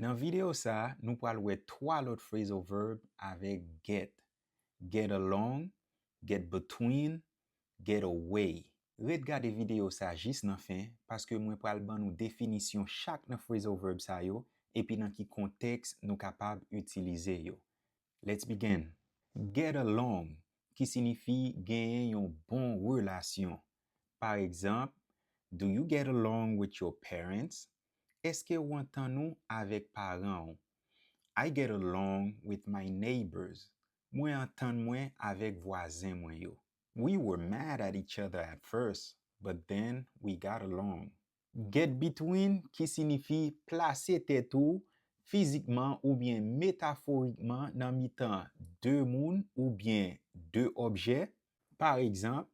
Nan videyo sa a, nou pral wè 3 lòt phrasal verb avèk get, get along, get between, get away. Ret gade videyo sa jis nan fen paske mwen pral ban nou definisyon chak nan phrasal verb sa yo epi nan ki kontèks nou kapab itilize yo. Let's begin! Get along, ki sinifi genyen yon bon relasyon. Paregzanp, Do you get along with your parents? Eske ou antann ou avèk paran ou? I get along with my neighbors, Mwen antann mwen avèk vwazen mwen yo. We were mad at each other at first, but then we got along. Get between ki sinifi plase tèt ou fizikman oubyen metaforikman nan mitan de moun oubyen de objè. Paregzanp,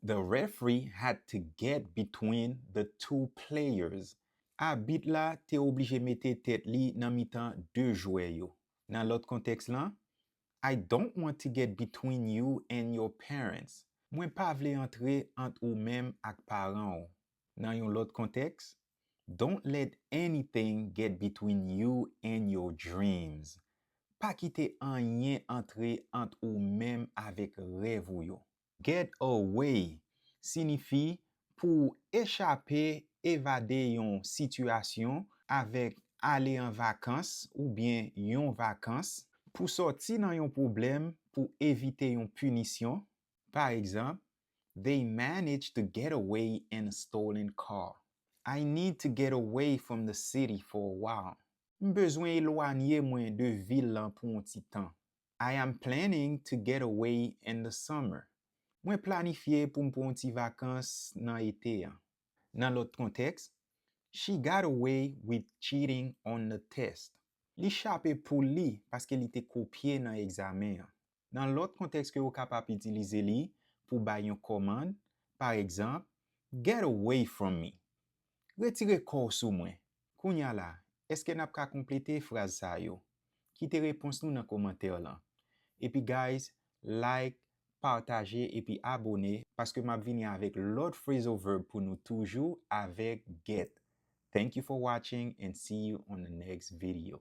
The referee had to get between the two players. Abit la te oblije mete tèt li nan mitan de jwè yo. Nan lòt kontèks lan, I don't want to get between you and your parents. Mwen pa vle antre ant ou menm ak paran w. Nan yon lòt kontèks, Don't let anything get between you and your dreams. Pa kite anyen antre ant ou menm avèk rèv ou yo. Get away sinifi pou w echape, evade yon sitiyasyon avèk ale an vakans oubyen yon vakans, pou sòti nan yon pwoblèm, pou evite yon pinisyon. Pa egzanp, They managed to get away in a stolen car. I need to get away from the city for a while. M bezwen elwanye mwen de vil lan pou yon ti tan. I am planning to get away in the summer. Mwen planifye pou m pran yon ti vakans nan ete an. Nan lòt kontèks, She got away with cheating on the test. Li chape poul li paske li te kopye nan egzamen an. Nan lòt kontèks ke okap ap itilize li pou bay yon kòmand, paregzanp, Get away from me! Retire kò w sou mwen. Kounye a la, èske n ap ka konplete fraz sa yo? Kite repons nou nan komantè lan. Epi guys, like, pataje epi abone paske m ap vini avèk lòt phrasal verb pou nou toujou avèk get. Thank you for watching and see you on the next video.